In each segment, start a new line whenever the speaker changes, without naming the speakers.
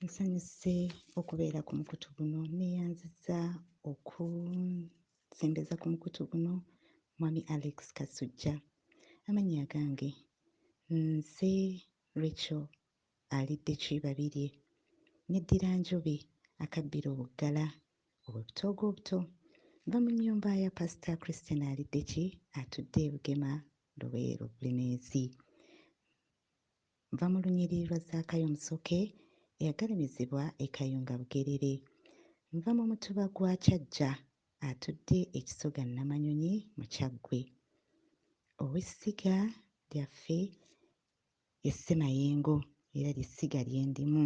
Nsanyuse okubeera ku mukutu guno, nneeyanzizza okusembeza ku mukutu guno Mwami Alex Kasujja. Amannya agange nze Rachel alidde Kibabirye, neddira Njobe akabbira obuggala obw'ebitoogo obuto. Nva mu nnyumba ya Pasita Christine Aliddeki atudde e Bugema Luweero Bulemeezi. Nva mu lunyiriri lwa Zaakayo Musoke eyagalamizibwa e Kayunga Bugerere. Nva mu mutuba gwa Kyajja atudde e Kisoga Namanyonyi mu Kyaggwe. Ow'essiga lyaffe ye Ssemayengo era ly'essiga lye ndimu.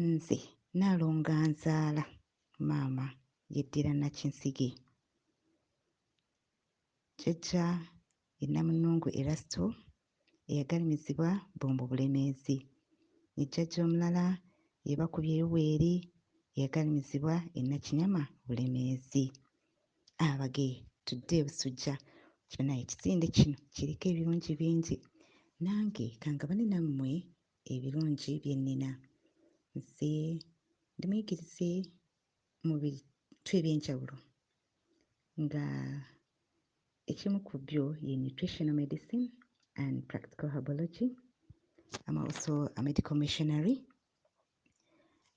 Nze Nnaalongo anzaala, maama yeddira Nakinsige. Jjajja ye Namunnungu Erasto eyagalimizibwa Bombo Bulemeezi ne jjajja omulala ye Bakubye Yoweeri eyagalimizibwa e Nakinyama Bulemeezi. Abage tudde e Busujja kyona ekisinde kino kiriko ebirungi bingi. Nange kangabane nammwe ebirungi bye nnina. Nze ndi muyigirize mu bitu eby'enjawulo nga ekimu ku byo ye nutritional medicine and practical herbology. I'm also a medical missionary.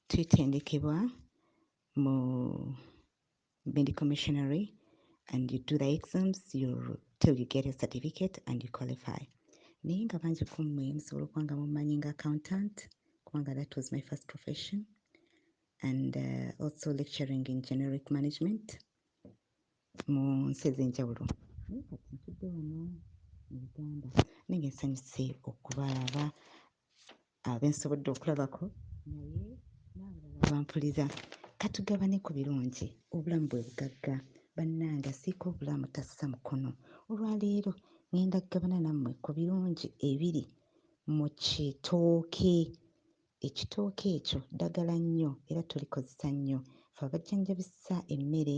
Twetendekebwa mu medical missionary and you do the exams you, till you get a certificate and you qualify naye nga bangi ku mmwe musobola okuba nga mumanyi nga accountant kubanga that was my first profession and uh, also lecturing in generic management mu nsi ez'enjawulo naye kati ntudde wano mu uganda naye nga nsanyuse okubalaba Abo be nsobodde okulabako naye n'abalala abampuliza ka tugabane ku birungi. Obulamu bwe bugagga bannange, asiika obulamu tassa mukono. Olwaleero ng'enda kugabana nammwe ku birungi ebiri mu kitooke. Ekitooke ekyo ddagala nnyo era tulikozesa nnyo ffe abajjanjabisa emmere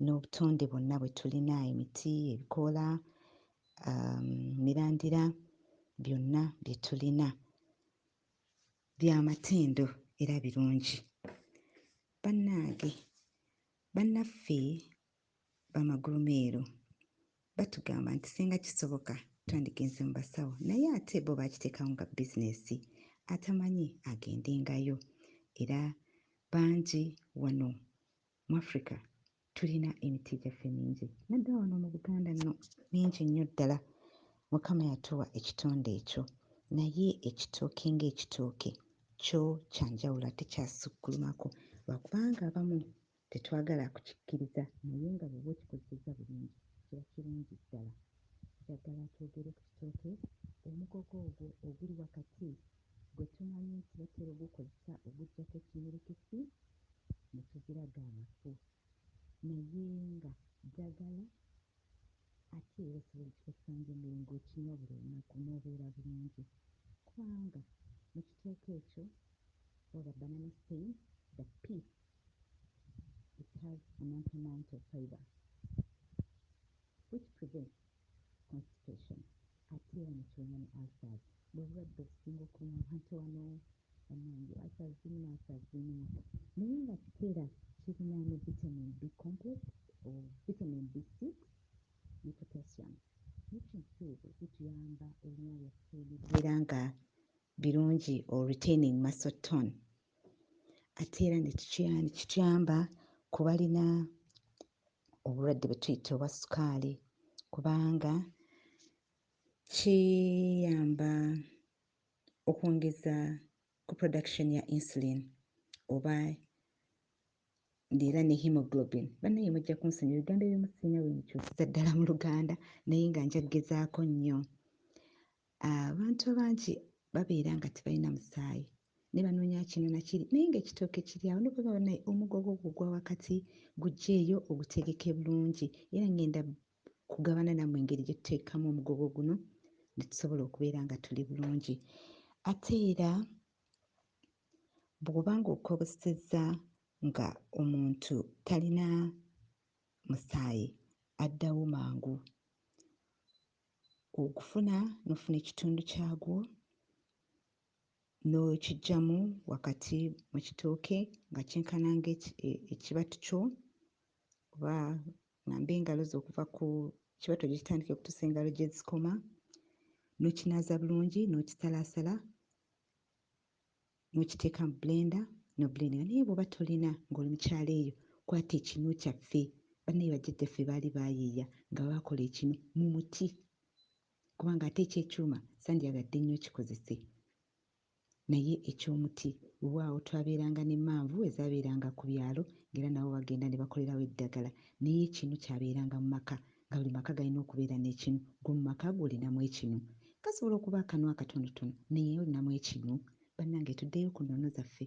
n'obutonde bwonna bwe tulina emiti ebikoola um, mirandira byonna bye tulina bya matendo era birungi bannange bannaffe bamagulumeero batugamba nti singa kisoboka twandigenze mu basawo naye ate bo bakiteekawo nga bizinesi atamanyi agendengayo era bangi wano Mu Africa tulina emitti gyaffe mingi naddala wano mu Buganda nno mingi nnyo ddala. Mukama yatuwa ekitonde ekyo naye ekitooke ng'ekitooke kyo kya njawulo ate kyasukkulumako lwakubanga abamu tetwagala kukikkiriza naye nga bw'oba okikozesezza bulungi kiba kirungi ddala. Njagala twogere ku kitooke omugogo ogwo oguli wakati gwe tumanyi nti batera ogukozesa oguggyako ekiyirikisi ne tuziraga amafu naye nga ddagala ate era osobola okikozesa ng'emmere ng'okinywa buli lunaku n'obeera bulungi kubanga mu kiteeko ekyo waba banana stain, the pea it has an ample amount of fibre which prevents. constipation ate era nekiruma ne ulcers bwebulwadde obusinga okuluma abantu wano banange ulcers zinyuma ulcers zinyuma naye nga tera kirina ne vitamin B complex or vitamin B six ne potassium nutrients ezo zituyamba ebinywa byaffe nebibeera nga birungi or retaining muscle tone ate era nekituyamba kubalina obulwadde bwe tuyita obwa sukaali kubanga kiyamba okwongeza ku production ya insulin oba era ne hemoglobin banaye mujja kunsonyi ebigambo ebimu sirina wemukyusiza ddala mu luganda naye nga nja kugezaako nnyo Abantu abangi babeera nga tebalina musaayi ne banoonya kino na kiri naye ng'ekitooke kiri awo ne bweba naye omugo gwo gugwa wakati guggyeeyo ogutegeke bulungi era ng'enda kugabana nammwe engeri gye tuteekamu omugogo guno ne tusobola okubeera nga tuli bulungi ate era bw'oba ng'okobosezza nga omuntu talina musaayi addawo mangu Ogufuna n'ofuna ekitundu kyagwo n'okiggyamu wakati mu kitooke nga kyenkana ng'ekibatu e, kyo oba ng'amba engalo zo okuva ku kibatu gikitandika okutuusa engalo gye zikoma n'okinaaza bulungi n'okisalaasala nokiteeka mu blender no blendinga naye bwoba tolina nga oli mukyalo eyo kwata ekinu kyaffe banaye bajjajja ffe baali bayiiya nga bakola ekinu mu muti kubanga ate ekyekyuma sandyagadde nnyo okikozese naye ekyomuti wewaawo twabeeranga ne manvu ezabeeranga ku byalo ngera nabo bagenda nebakolerawo eddagala naye ekinu kyabeeranga mu maka nga buli maka galina okubeera n'ekinu, ggwe mu maka go olinamu ekinu? Kasobola okuba akanu akatonotono, naye olinamu ekinu? Bannange tuddeyo ku nnono zaffe.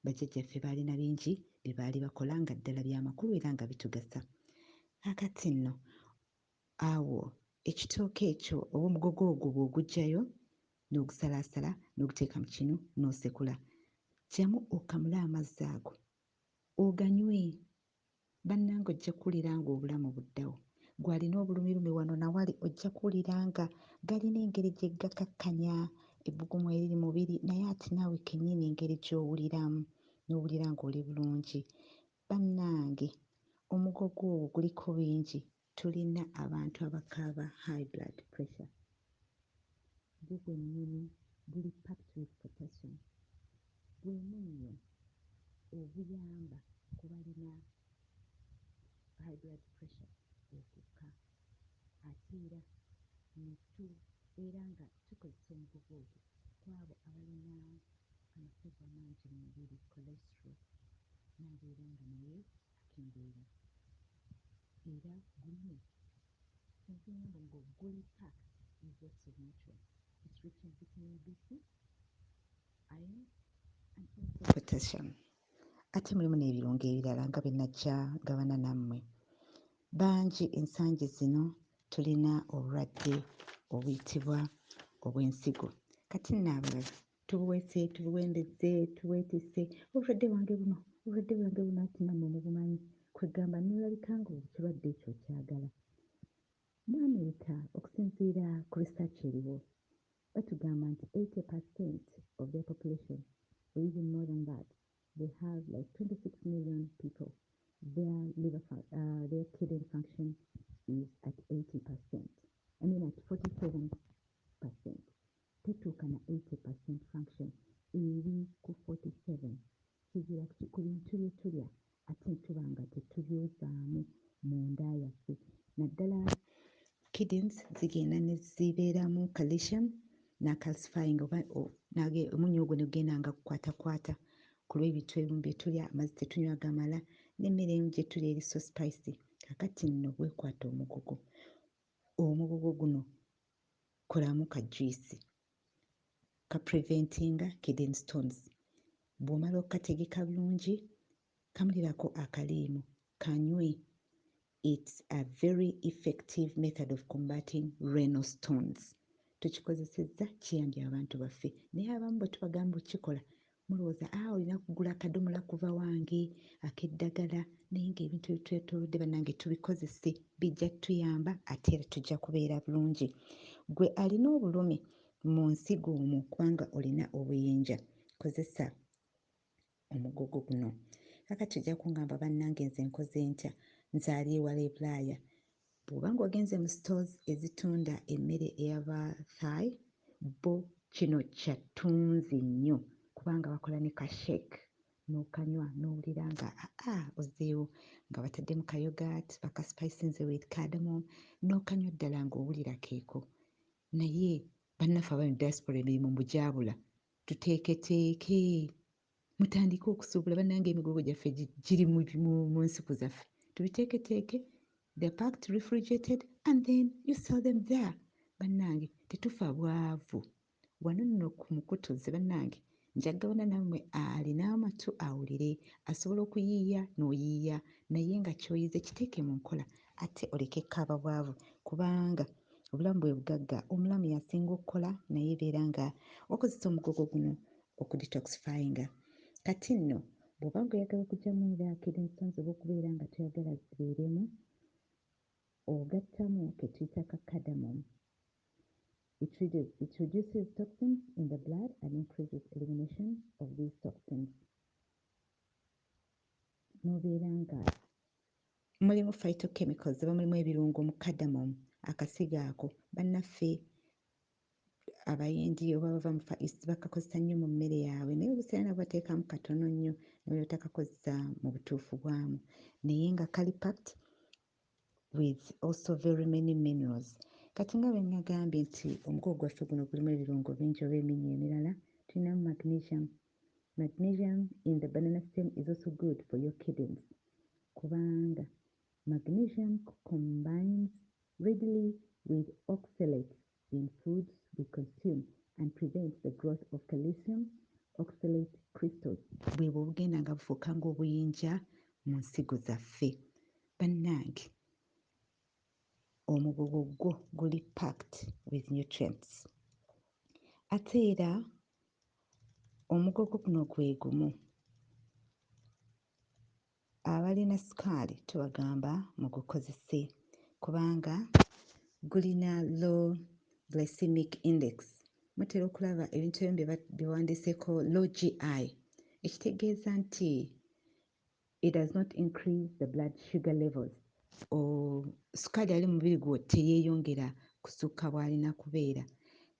Bajjajjaffe baalina bingi bye baali bakola nga ddala bya makulu era nga bitugasa. Kaakati nno, awo ekitooke ekyo oba omugogo ogwo bw'oguggyayo, n'ogusalaasala, n'oguteeka mu kinu, n'osekula. Ggyamu okamule amazzi ago, oganywe. Banange ojja kuwulira nga obulamu buddawo. Gwe alina obulumilumi wano na wali ojja kuwulira nga galina engeri gye gakakkanya ebbugumu eriri mubiri naye ate naawe kennyini engeri gy'owuliramu n'owulira ng'oli bulungi. Bannange omugogo ogwo guliko bingi Tulina abantu abakaaba high blood pressure bwo bwenyini buli packed with potassium, gwe munnyo oguyamba ku balina high blood pressure okukka ate era ne tubeera nga tukozesa omugogo ogwo kwabo abalina amafuuvu amangi mu mubiri, cholesterol, n'abeera nga naye embeera era gulina ekigambo ngo guli packed with lots of natural it's rich in vitamin B6, iron and potassium ate mulimu n'ebirungo ebirala nga bye najja gabana nammwe bangi ensangi zino tulina obulwadde obuyitibwa obw'ensigo kati nno abalala tubuwese tubuwembezze tuwetisse obulwadde bwange buno obulwadde bwange buno ati nammwe mubumanyi kwegamba nolabika nga ekirwadde ekyo okyagala mu america okusinziira ku research eriwo batugamba nti 80 percent of their population or even more than that they have like 26 million people their liver uh, their kidney function is at 80 percent i mean at 47 percent tetuuka na eighty per cent function eri ku forty seven kizira kki ku bintu bye tulya ate ne tuba nga tetubyozaamu mu nda yaffe naddala kidneys zigenda ne zibeeramu calcium na calcifying oba omunnyo ogwo ne gugenda nga gukwatakwata ku lw'ebintu ebimu bye tulya amazzi tetunywa gamala n'emmere emu gye tulya eri so spicy kakati nno bwekwata omugugu omugugu guno kolamu ka juice ka preventinga kidney stones bw'omala okukategeka bulungi kamulirako akaliimu kanywe it's a very effective method of combating renal stones tukikozesezza kiyambye abantu baffe naye abamu bwe tubagamba okukikola Mulowooza a olina kugula akadomola kuva wange akeddagala naye nga ebintu ebitwetolodde banange tubikozese bijja tuyamba ate era tujja kubeera bulungi gwe alina obulumi mu nsigo omwo kubanga olina obuyinja kozesa omugogo guno kakati ojja kungamba banange nze nkoze ntya nze ali ewala ebulaaya Bw'oba ng'ogenze mu stores ezitunda emmere eya ba Thai, bo kino kya ttunzi nnyo kubanga bakola ne ka shake n'okanywa n'owulira nga aa ozzeewo nga bataddemu ka yoghurt bakaspicinze with cardamom n'okanywa ddala ng'owulira keeko. Naye bannaffe abali mu diaspora emirimu mbu gyabula. Tuteeketeeke! Mutandike okusuubula banange emigogo gyaffe giri mu nsiku zaffe tubiteeketeeke they're packed refrigerated and then you sell them there banange tetufa bwavu wano nno ku mukutu ze banange njagabana nammwe alina amatu awulire asobola okuyiiya n'oyiiya naye nga kyoyize kiteeke mu nkola ate oleke kaaba bwavu kubanga obulamu bwe bugagga omulamu yasinga okukola naye beera nga wakozesa omugogo guno okudetoxifyinga kati nno bwoba nga oyagala okujamu era akiri nsonze oba okubeera nga toyagala zibeeremu ogattamu ketuyita ka cardamom it reduces toxins in the blood and increases elimination of these toxins nobeera nga mulimu phytochemicals oba mulimu ebirungo mu cardamom akasigo ako bannaffe abayindi oba bava mu fa east bakakozesa nnyo mu mmere yaabwe naye obuseera nabo bateekamu katono nnyo nebwebutakakozesa mu butuufu bwamu naye nga kali packed with also very many minerals kati nga bwenagambye nti omukogo gwaffe guno gulimu ebirungo bingi oba eminnyo emirala tulinamu magnesium magnesium in the banana stem is also good for your kidneys kubanga magnesium combines readily with oxalates in foods we consume and prevents the growth of calcium oxalate crystals. Bwebwo obugenda nga bufuuka ng'obuyinja mu nsigo zaffe. Bannange omugogo gwo guli packed with nutrients. Ate era omugogo guno gwe gumu Abalina sukaali tubagamba mugukozese kubanga gulina low glycemic index. Mutera okulaba ebintu ebimu bye bawandiiseko low GI ekitegeeza nti it does not increase the blood sugar levels sukaali ali mubiri gwo teyeyongera kusukka bwalina kubeera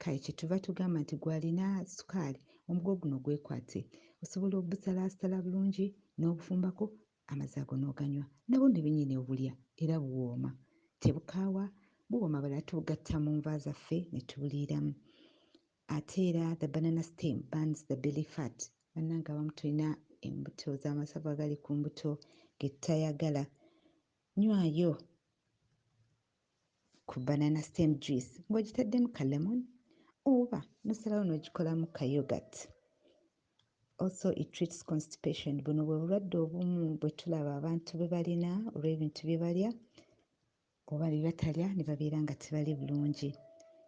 kale kyetuva tugamba nti gwalina sukaali omugo guno gwekwate osobola obusalaasala bulungi n'obufumbako amazzi ago n'oganywa nabwo nebinyini obulya era buwooma tebukaawa buwooma balala tubugatta mu nva zaffe ne tubuliiramu Ate era the banana stem burns the belly fat banange abamu tulina embuto zamasavu agali ku mbuto getutayagala nywayo ku banana stem juice ng'ogitaddemu ka lemon oba nosalawo n'ogikolamu ka yogurt also it treats constipation buno bwe bulwadde obumu bwe tulaba abantu bwe balina olw'ebintu bye balya Kuba be batalya ne babeera nga tebali bulungi.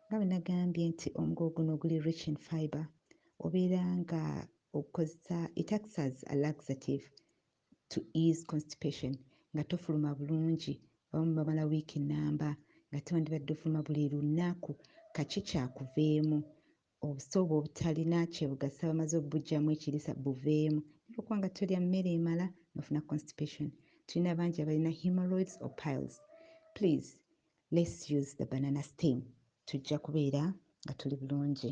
Nga bwe nagambye nti omugo guno oguli rich in fibre obeera nga ogukozesa, it acts as a laxative to ease constipation nga tofuluma bulungi, abamu bamala wiiki nnamba nga tewandibadde ofuluma buli lunnaku kaki kyakuveemu Obusawo bwobutalina kyebugasa bamaze obujamu ekirisa buveemu naye lwakuba nga tolya mmere emala nofuna constipation tulina bangi abalina hemorrhoids or piles please let's use the banana steam tujja kubeera nga tuli bulungi.